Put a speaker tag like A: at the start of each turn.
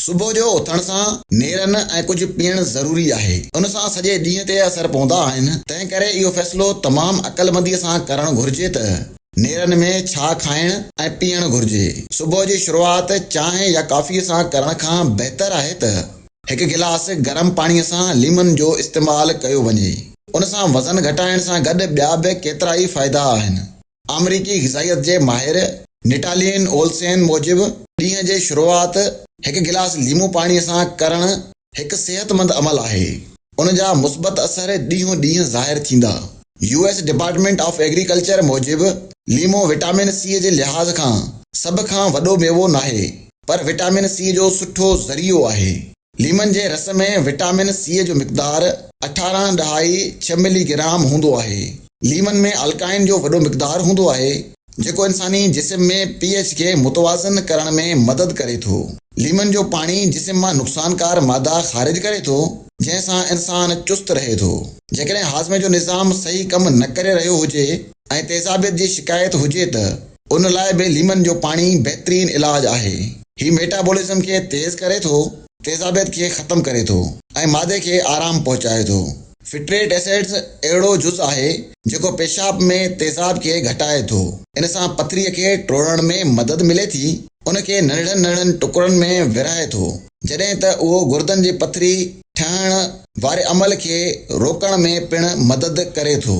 A: صبح جو اٿڻ سان نيرن ۽ ڪجهه پيئڻ ضروري آهي. ان سان سڄي ڏينهن تي اثر پوندا آهن، تنهن ڪري اهو فيصلو تمام عقلمنديء سان ڪرڻ گهرجي ته نيرن ۾ ڇا کائڻ ۽ پيئڻ گهرجي. صبح جي شروعات چانهه يا ڪافيء سان ڪرڻ کان بهتر آهي ته هڪ گلاس گرم پاڻيء سان ليمن جو استعمال ڪيو وڃي. ان سان وزن گهٽائڻ سان گڏ ٻيا به ڪيترائي فائدا آهن. آمريڪي غذائيت جي ماهر نٽالين اولسين موجب، ڏينهن جي شروعات هڪ گلاس ليمو پاڻي سان ڪرڻ هڪ صحتمند عمل آهي، ان جا مثبت اثر ڏينهون ڏينهن ظاهر ٿيندا. U S department of agriculture موجب، ليمو وٽامن سي جي لحاظ کان سڀ کان وڏو ميوو ناهي، پر وٽامن سي جو سٺو ذريعو آهي. ليمن جي رس ۾ وٽامن سيء جو مقدار اٺارهن ڏهائي ڇهه ملي گرام هوندو آهي. ليمن ۾ الڪائن جو وڏو مقدار هوندو آهي، جيڪو انساني جسم ۾ پي ايڇ کي متوازن ڪرڻ ۾ مدد ڪري ٿو. ليمن جو پاڻي جسم مان نقصانڪار مادا خارج ڪري ٿو، جنهن سان انسان چست رهي ٿو. جيڪڏهن هاضمي جو نظام صحيح ڪم نه ڪري رهيو هجي ۽ تيزابيت جي شڪايت هجي ته ان لاء به ليمن جو پاڻي بهترين علاج آهي. هي ميٽابولزم کي تيز ڪري ٿو، تيزابيت کي ختم ڪري ٿو ۽ معدي کي آرام پهچائي ٿو. فٽريٽ ايسڊز اهڙو جز آهي جيڪو پيشاب ۾ تيزاب کي گهٽائي ٿو. ان سان پٿريء کي ٽوڙڻ ۾ مدد ملي ٿي. ان کي ننڍڙن ننڍڙن ٽڪرن ۾ ورهائي ٿو، جڏهن ته اهو گردن جي پٿري ٺهڻ واري عمل کي روڪڻ ۾ پڻ مدد ڪري ٿو.